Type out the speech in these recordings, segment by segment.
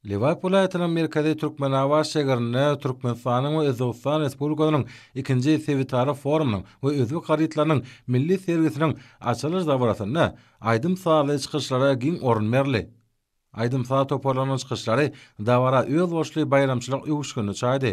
Lebap welaýatynyň merkezi Türkmenabat şägerinde Türkmenistanyň we Özbegistan Respublikasynyň ikinji sebitara forumynyň we özbek harytlarynyň milli sergisiniň açylyş dabarasynda aýdym-sazly çykyşlara giň orun berildi. Aýdym-saz toparlarynyň çykyşlary dabara özboluşly baýramçylyk öwüşginini çaýdy.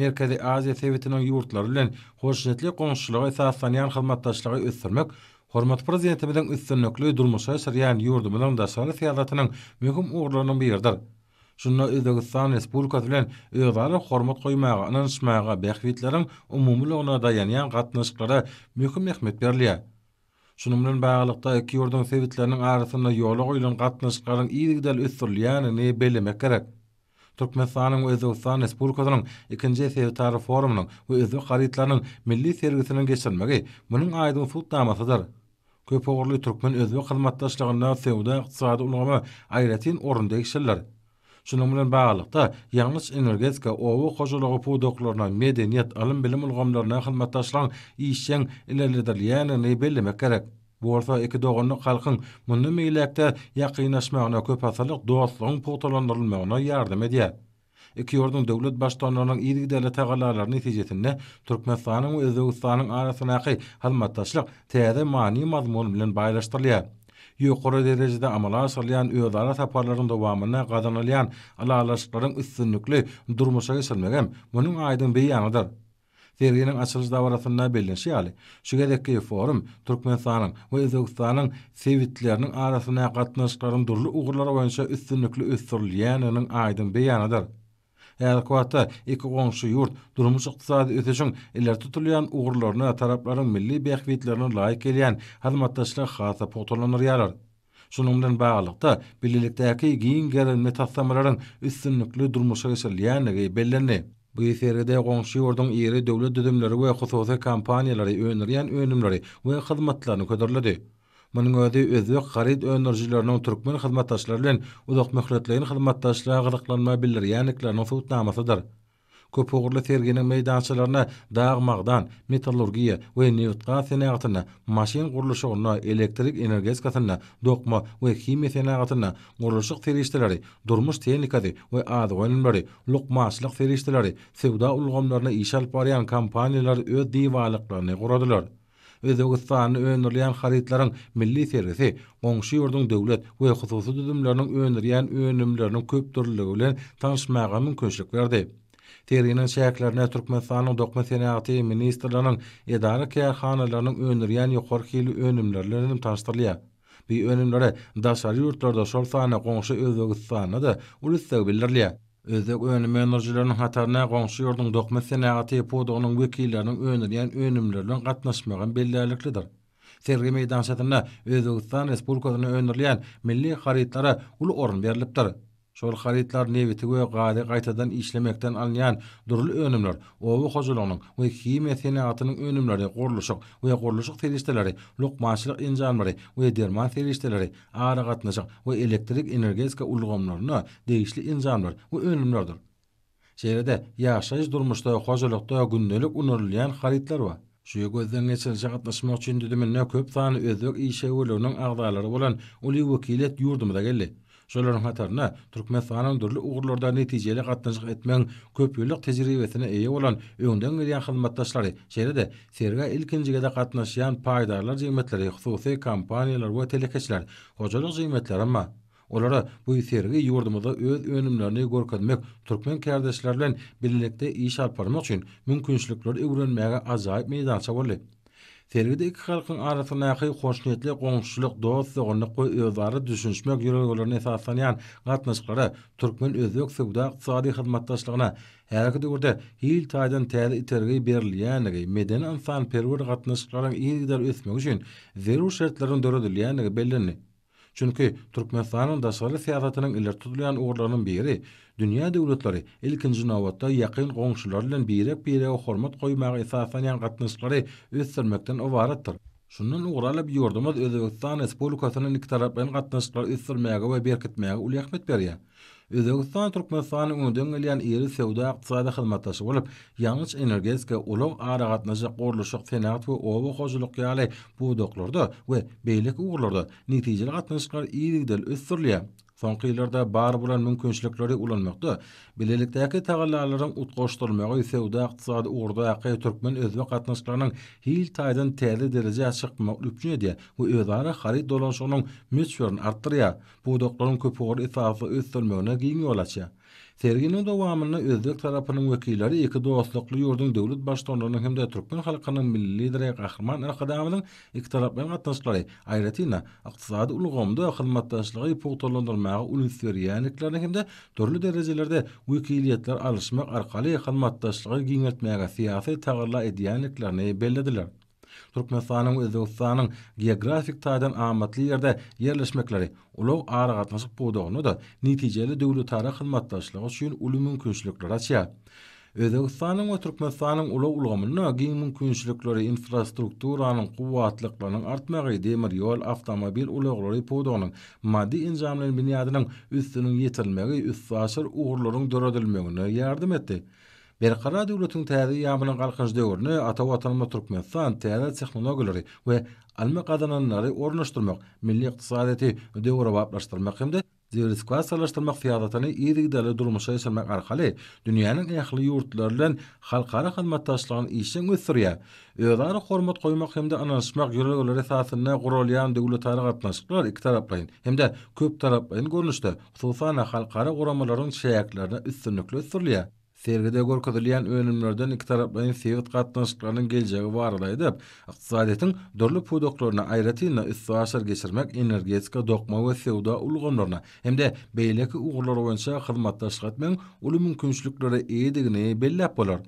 Merkezi Aziýa sebitiniň ýurtlary bilen hoşniýetli goňşuçylyga esaslanýan hyzmatdaşlygy ösdürmek hormatly Prezidentimiziň üstünlikli durmuşa geçirýän ýurdumyzyň daşary syýasatynyň möhüm ugurlarynyň biridir. Şunda Özbegistan Respublikasy bilen özara hormat goýmaga, ynanyşmaga, bähbitleriň umumylygyna daýanýan gatnaşyklara möhüm ähmiýet berilýär. Şunuň bilen baglylykda, iki ýurduň sebitleriniň arasynda ýola goýlan gatnaşyklaryň yzygiderli ösdürilýändigini bellemek gerek. Türkmenistanyň we Özbegistan Respublikasynyň ikinji sebitara forumynyň we özbek harytlarynyň milli sergisiniň geçirilmegi munuň aýdyň subutnamasydyr. Köpugurly türkmen-özbek hyzmatdaşlygynda söwda-ykdysady ulgama aýratyn orun degişlidir. Şunuň bilen baglylykda, ýangyç-energetika, oba hojalygy pudaklaryna, medeniýet, ylym-bilim ulgamlaryna hyzmatdaşlygyň işjeň ilerledilýändigini bellemek gerek. Bu bolsa iki doganlyk halkyň mundan beýläk-de ýakynlaşmagyna, köpasyrlyk dostlugyň pugtalandyrylmagyna ýardam edýär. Iki ýurduň döwlet Baştutanlarynyň yzygiderli tagallalary netijesinde Türkmenistanyň we Özbegistanyň arasyndaky hyzmatdaşlyk täze many-mazmun bilen baýlaşdyrylýar. Ýokary derejede amala aşyrylýan özara saparlaryň dowamynda gazanylýan ylalaşyklaryň üstünlikli durmuşa geçirilmegi hem munuň aýdyň beýanydyr. Serginiň açylyş dabarasynda bellenişi ýaly, şu gezekki forum Türkmenistanyň we Özbegistanyň sebitleriniň arasyndaky gatnaşyklaryň dürli ugurlar boýunça üstünlikli ösdürilýändiginiň aýdyň beýanydyr. Häzirki wagtda iki goňşy ýurt durmuş-ykdysady ösüşiň ileri tutulýan ugurlaryna taraplaryň milli bähbitlerine laýyk gelýän hyzmatdaşlygy has-da pugtalandyrýarlar. Şunuň bilen baglylykda, bilelikdäki giň gerimli taslamalaryň üstünlikli durmuşa geçirilýändigi bellendi. Bu sergide goňşy ýurduň iri döwlet düzümleri we hususy kompaniýalary öndürýän önümleri we hyzmatlaryny hödürledi. Munuň özi özbek haryt öndürijileriniň türkmen hyzmatdaşlary bilen uzakmöhletleýin hyzmatdaşlyga gyzyklanma bildirýändikleriniň subutnamasydyr. Köpugurly serginiň meýdançalarynda dag-magdan, metallurgiýa we nebit-gaz senagatynda, maşyn gurluşygynda, elektrik energetikasynda, dokma we himiýa senagatynda, gurluşyk serişdeleri, durmuş tehnikasy we azyk önümleri, lukmançylyk serişdeleri, söwda ulgamlarynda iş alyp barýan kompaniýalar öz diwarlyklaryny guradylar. Özbegistanda öndürilýän harytlaryň milli sergisi goňşy ýurduň döwlet we hususy düzümleriniň öndürýän önümleriniň köpdürlüligi bilen tanyşmaga mümkinçilik berdi. Serginiň çäklerinde Türkmenistanyň Dokma senagaty ministrliginiň edara-kärhanalarynyň öndürýän ýokary hilli önümleri bilen hem tanyşdyrylýar. Bu önümlere daşary ýurtlarda, şol sanda goňşy Özbegistanda-da uly isleg bildirilýär. Özbek önüm öndürijileriniň hataryna goňşy ýurduň dokma senagaty pudagynyň wekilleriniň öndürýän önümleri bilen gatnaşmagam bellärliklidir. Sergi meýdançasynda Özbegistan Respublikasynda öndürilýän milli harytlara uly orun berlipdir. Şol harytlar nebiti we gazy gaýtadan işlemekden alynýan dürli önümler, oba hojalygynyň we himiýa senagatynyň önümleri, gurluşyk we gurluşyk serişdeleri, lukmançylyk enjamlary we derman serişdeleri, aragatnaşyk we elektrik-energetika ulgamlaryna degişli enjamlar we önümlerdir. Şeýle-de, ýaşaýyş-durmuşda, hojalykda gündelik ulanylýan harytlar bar. Şu gözden geçirilişe gatnaşmak üçin düzüminde köp sanly özbek işewürliginiň agzalary bolan uly wekiliýet ýurdumyza geldi. Şolaryň hatarynda Türkmenistanyň dürli ugurlarda netijeli gatnaşyk etmegiň köpýyllyk tejribesine eýe bolan öňden gelýän hyzmatdaşlary, şeýle-de sergä ilkinji gezek gatnaşýan paýdarlar jemgyýetleri, hususy kompaniýalar we telekeçiler, hojalyk jemgyýetlerem bar. Olara bu sergi ýurdumyzda öz önümlerini görkezmek, türkmen kärdeşler bilen bilelikde iş alyp barmak üçin mümkinçilikleri öwrenmäge ajaýyp meýdança boldy. Sergide iki halkyň arasyndaky hoşniýetli goňşuçylyk, dost-doganlyk we özara düşünişmek ýörelgelerine esaslanýan gatnaşyklara, türkmen-özbek söwda-ykdysady hyzmatdaşlygyna häzirki döwürde hil taýdan täze itergi berilýändigi, medeni-ynsanperwer gatnaşyklaryň yzygider ösmegi üçin zerur şertleriň döredilýändigi bellendi. Çünki Türkmenistanyň daşary syýasatynyň ileri tutulýan ugurlarynyň biri dünýä döwletleri, ilkinji nobatda, ýakyn goňşulary bilen birek-birege hormat goýmaga esaslanýan gatnaşyklary ösdürmekden ybaratdyr. Şundan ugur alyp, ýurdumyz Özbegistan Respublikasy bilen ikitaraplaýyn gatnaşyklary ösdürmäge we berkitmäge uly ähmiýet berýär. Özbegistan Türkmenistanyň öňden gelýän iri söwda-ykdysady hyzmatdaşy bolup, ýangyç-energetika, ulag-aragatnaşyk, gurluşyk, senagat we oba hojalyk ýaly pudaklarda we beýleki ugurlarda netijeli gatnaşyklar yzygiderli ösdürilýär. Soňky ýyllarda bar bolan mümkinçilikleri ulanmakda, bilelikdäki tagallalaryň utgaşdyrylmagy söwda-ykdysady ugurdaky türkmen-özbek gatnaşyklarynyň hil taýdan täze derejä çykmagyny üpjün edýär we özara haryt dolanyşygynyň möçberini artdyrýar. pudaklaryň köpugurly esasda ösdürilmegine giň ýol açýar. Serginiň dowamynda özbek tarapynyň wekilleri iki dostlukly ýurduň döwlet Baştutanlarynyň hem-de türkmen halkynyň Milli Lideri Gahryman Arkadagymyzyň ikitaraplaýyn gatnaşyklary, aýratyn-da, ykdysady ulgamda hyzmatdaşlygy pugtalandyrmaga üns berýändiklerini hem-de dürli derejelerde wekiliýetler alyşmak arkaly hyzmatdaşlygy giňeltmäge syýasy tagalla edýändiklerini bellediler. Türkmenistanyň we Özbegistanyň geografik taýdan amatly ýerde ýerleşmekleri ulag-aragatnaşyk pudagynda-da netijeli döwletara hyzmatdaşlygy üçin uly mümkinçilikleri açýar. Özbegistanyň we Türkmenistanyň ulag ulgamynda giň mümkinçilikleri infrastrukturanyň kuwwatlyklarynyň artmagy demir ýol, awtomobil ulaglary pudagynyň maddy-enjamlaýyn binýadynyň üstüniň ýetirilmegi üstaşyr ugurlaryň döredilmegine ýardam etdi. Berkarar döwletiň täze ýamynyň Galkynyş döwrüne ata Watanymyz Türkmenistan täze tehnologiýalary we almy gazananlary ornaşdyrmak, milli ykdysadyýeti döwrebaplaşdyrmak hem-de diwersifikasiýalaşdyrmak syýasatyny yzygiderli durmuşa geçirmek arkaly dünýäniň ähli ýurtlary bilen halkara hyzmatdaşlygyny işjeň ösdürýär. Özara hormat goýmak hem-de ynanyşmak ýörelgeleri esasynda guralýan döwletara gatnaşyklar ikitaraplaýyn hem-de köptaraplaýyn görnüşde, hususan-da, halkara guramalaryň çäklerinde üstünlikli ösdürilýär. Sergide görkezilýän önümlerden ikitaraplaýyn sebit gatnaşyklarynyň geljegi barada aýdyp, ykdysadyýetiň dürli pudaklaryna, aýratyn-da, üstaşyr geçirmek, energetika, dokma we söwda ulgamlaryna hem-de beýleki ugurlar boýunça hyzmatdaşlyk etmegiň uly mümkinçiliklere eýedigini belläp bolar.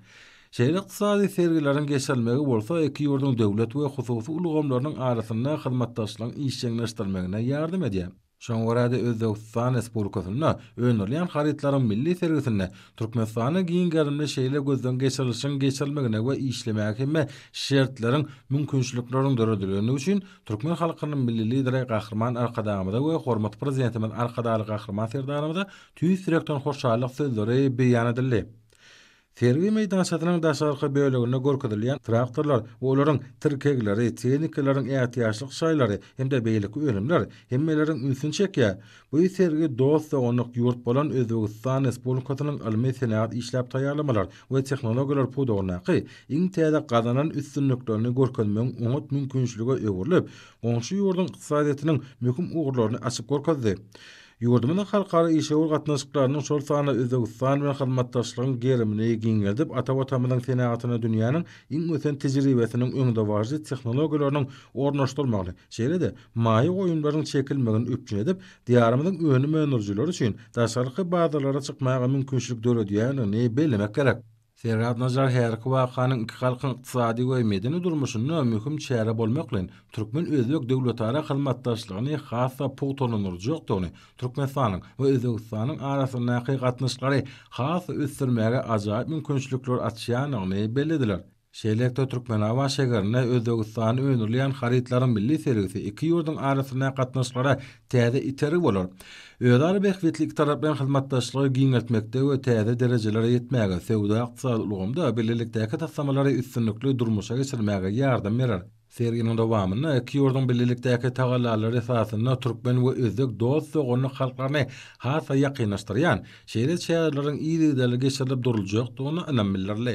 Şeýle ykdysady sergileriň geçirilmegi bolsa iki ýurduň döwlet we hususy ulgamlarynyň arasynda hyzmatdaşlygyň işjeňleşdirilmegine ýardam edýär. Şoňa görä-de, Özbegistan Respublikasynda öndürilýän harytlaryň milli sergisinde Türkmenistanda giň gerimli şeýle gözden geçirilişiň geçirilmegine we işlemäge hemme şertleriň, mümkinçilikleriň döredilendigi üçin türkmen halkynyň Milli Lideri Gahryman Arkadagymyza we hormatly Prezidentimiz Arkadagly Gahryman Serdarymyza tüýs ýürekden hoşallyk sözleri beýan edildi. Sergi meýdançasynyň daşarky böleginde görkezilýän traktorlar we olaryň tirkegleri, tehnikalaryň ätiýaçlyk şaýlary hem-de beýleki önümler hemmeleriň ünsüni çekýär. Bu sergi dost-doganlyk ýurt bolan Özbegistan Respublikasynyň ylmy-senagat işläp taýýarlamalar we tehnologiýalar pudagyndaky iň täze gazanan üstünliklerini görkezmegiň oňat mümkinçilige öwrülip, goňşy ýurduň ykdysadyýetiniň möhüm ugurlaryny açyp görkezdi. Ýurdumyzyň halkara işewür gatnaşyklarynyň, şol sanda Özbegistan bilen hyzmatdaşlygyň gerimini giňeldip, ata Watanymyzyň senagatyna dünýäniň iň ösen tejribesiniň, öňdebaryjy tehnologiýalarynyň ornaşdyrmagyny, şeýle-de maýa goýumlaryň çekilmegini üpjün edip, Diýarymyzyň önüm öndürijileri üçin daşarky bazarlara çykmaga mümkinçilik döredýändigini bellemek gerek. Serhat Najar häzirki wakanyň iki halkyň ykdysady we medeni durmuşynda möhüm çäre bolmak bilen, türkmen-özbek döwletara hyzmatdaşlygyny has-da pugtalandyrjakdygyny, Türkmenistanyň we Özbegistanyň arasyndaky gatnaşyklary has-da ösdürmäge ajaýyp mümkinçilikler açýandygyny bellediler. Şeýlelikde, Türkmenabat şäherinde Özbegistanda öndürilýän harytlaryň milli sergisi iki ýurduň arasyndaky gatnaşyklara täze itergi bolar. Özara bähbitli ikitaraplaýyn hyzmatdaşlygy giňeltmekde we täze derejelere ýetmäge, söwda-ykdysady ulgamda bilelikdäki taslamalary üstünlikli durmuşa geçirmäge ýardam berer. Serginiň dowamynda iki ýurduň bilelikdäki tagallalary esasynda türkmen we özbek dost-doganlyk halklaryny has-da ýakynlaşdyrýan şeýle çäreleriň yzygiderli geçirilip duruljakdygyna ynam bildirildi.